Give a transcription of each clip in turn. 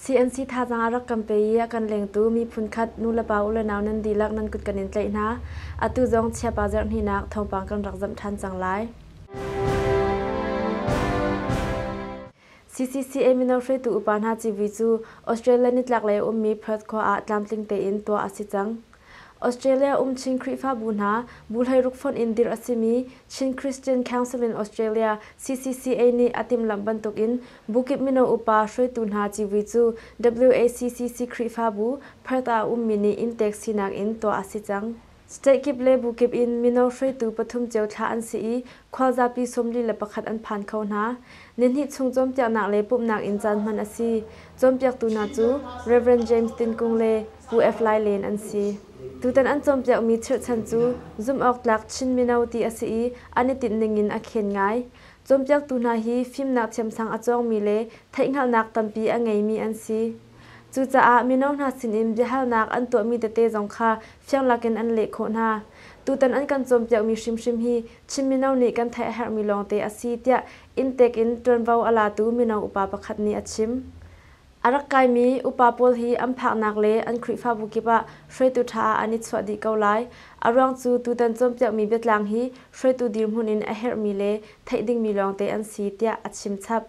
CNC thazaang rak kan pe i a kan lengtu miphun khat nu le pa u le nau nan dihlak nan kut kan in tlaih hna atu zong chiapa zarh hninak thawngpang kan rak zamh ṭhan cang lai. CCCA mino hruaitu upa hna civui cu Australia nitlaklei a ummi Perth khua ah tlamtling tein tuah a si cang. Australia um Chin Khrihfabu hna bu hleiruk fonh in dirh a simi Chin Christian Council in Australia CCCA nih a timhlamh bantukin bukip mino upa hruaitu hna civui cu WACCC Khrihfabu Perth ah a ummi nih inn tek sinak in tuah a si cang. State kip le bu kip in mino hruaitu pathum cio thlah an si i khualzapi sawmli le pakhat an phan kho hna. Nihnih chung cawnpiaknak le pumhnak in caan hman a si. Cawnpiaktu hna cu Rev. James Tin Kung le Pu F. Lai Len an si. Tutan an cawnpiakmi chirhchan cu zumhawktlak Chin mino ti a si i an i tinhning in a khen ngai. Cawnpiaktu hna hi fimnak thiamsang a cawngmi le theihhngalhnak tampi a ngeimi an si. Cucaah mino hna sinin biahalnak an tuahmi tete zong kha fiang lakin an leh khawh hna. Tutan an kan cawnpiakmi hrimhrim hi Chin mino nih kan theih a herhmi lawngte a si tiah inntek in ṭuanvo a latu mino upa pakhat nih a chim. A rak kaimi upa pawl hi an phaknak le an Khrihfabu kip ah hruaitu ṭha ah an i chuah dih ko lai. A ruang cu tutan cawnpiakmi biatlang hi hruaitu dirhmun in a herhmi le theih dingmi lawngte an si tiah a chim chap.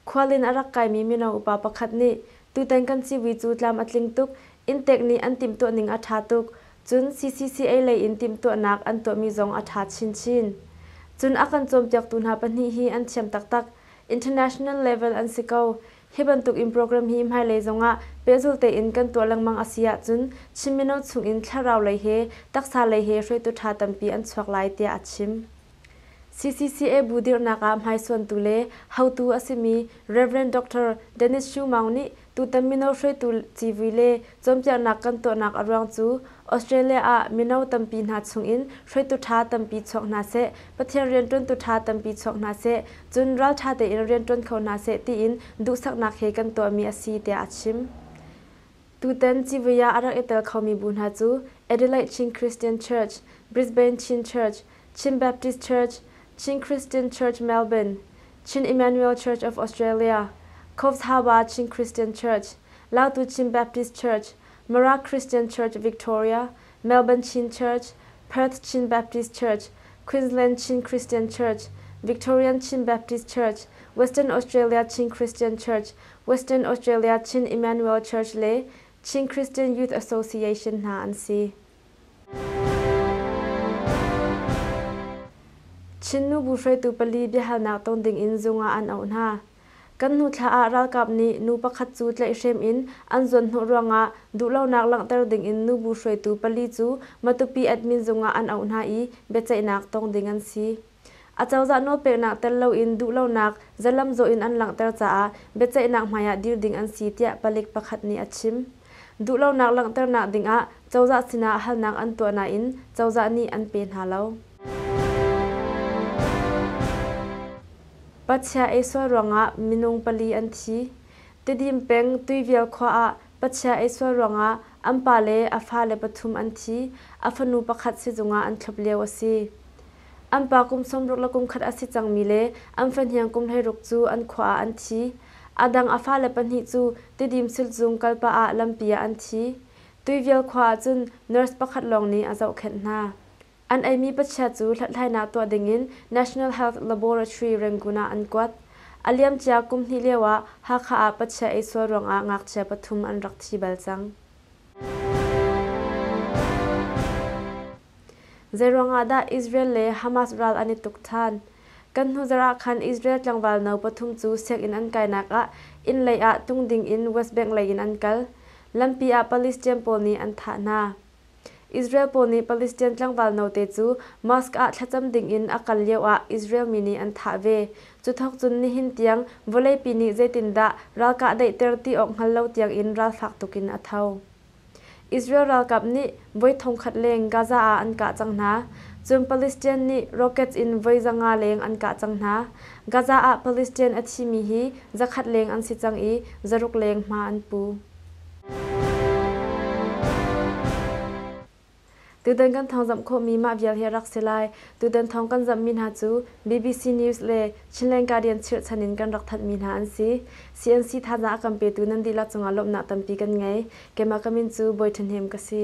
Khualin a rak kaimi mino upa pakhat nih tutan kan civui cu tlam a tling tuk, Inntek nih an timhtuahning a ṭha tuk, cun CCCA lei in timhtuahnak an tuahmi zong a ṭha chinchin. Cun a kan cawnpiaktu hna pahnih hi an thiam taktak, international level an si ko. Hi bantuk in program hi hmailei zongah pehzul tein kan tuah lengmang a si ahcun Chin mino chungin thlarau lei he, taksa lei he hruaitu ṭha tampi an chuak lai tiah a chim. CCCA bu dirhnak ah hmaisuantu le hotu a simi Rev. Dr. Dennis Shu Maung nih tutan mino hruaitu civui le cawnpiaknak kan tuahnak a ruang cu Australia ah mino tampi hna chungin hruaitu ṭha tampi chuak hna seh, Pathian rianṭuantu ṭha tampi chuak hna seh, cun ralṭha tein rianṭuan kho hna seh tiin duhsaknak he kan tuahmi a si tiah a chim. Tutan civui ah a rak i tel khomi bu hna cu Adelaide Chin Christian Church, Brisbane Chin Church, Chin Baptist Church, Chin Christian Church Melbourne, Chin Emmanuel Church of Australia, Covthava Chin Christian Church, Lautu Chin Baptist Church, Mara Christian Church Victoria, Melbourne Chin Church, Perth Chin Baptist Church, Queensland Chin Christian Church, Victorian Chin Baptist Church, Western Australia Chin Christian Church, Western Australia Chin Emmanuel Church le Chin Christian Youth Association hna an si. Chin nubu hruaitu pali biahalnak tong dingin zung ah an auh hna. Kan hnu thla ah ralkap nih nu pakhat cu tlaihhrem in an zuanhnawh ruangah duhlonak langhter dingin nubu hruaitu pali cu Matupi Admin zung ah an auh hna i biaceihnak tong ding an si. Acozah nawlpeknak tel loin duhlonak zalamzawh in an langhter caah biaceihnak hmaiah dir ding an si tiah palik pakhat nih a chim. Duhlonak langhternak dingah cozah sinah halnak an tuah nain cozah nih an pe hna lo. Pachia ei sual ruangah minung pali an thi. Tedim peng Tuivial khua ah pachia ei sual ruangah an pa le a fale pathum an thi, a fanu pakhat sizung ah an thlop lio a si. An pa kum sawmruk le kum khat a si cangmi le an fahniang kum hleiruk cu an khua ah an thi. A dang a fale pahnih cu Tidim Sulzung kalpah ah lampi ah an thi. Tuivial khua ahcun nurse pakhat lawng nih a zohkhenh hna. An eimi pachia cu hlathlainak tuah dingin National Health Laboratory Rangoon ah an kuat. A liamcia kum hnih lioah Hakha ah pachia ei sual ruangah ngakchia pathum an rak thi bal cang. Zeiruangah dah Israel le Hamas ral an i tuk ṭhan? Kan hnuzarh ah khan Israel tlangval no pathum cu sianginn an kainak ah innlei ah tung ding in West Bank lei in an kal. Lampi ah Palestine pawl nih an thah hna. Israel pawl nih Palestine tlangval note cu mosque ah thlacam ding in a kal lio ah Israel mi nih an thah ve. Cu thawk cun nihin tiang vawleipi nih zeitindah ral kahdaihter ti awk hngal lo tiang in ralfak tuk in a tho. Israel ralkap nih voi thongkhat leng Gaza ah an kah cang hna. Cun Palestinian nih rockets in voi za nga leng an kah cang hna. Gaza ah Palestinian a thimi hi zakhat leng an si cang i zaruk leng hma an pu. Tutan kan thawng zamh khawhmi mah vial hi a rak si lai. Tutan thawng kan zamhmi hna cu BBC News le Chinland Guardian chirhchan in kan rak thanhmi hna an si. CNC thazaang a kan petu nan dihlak cungah lawmhnak tampi kan ngei. Keimah ka min cu Bawi Ṭhahnem ka si.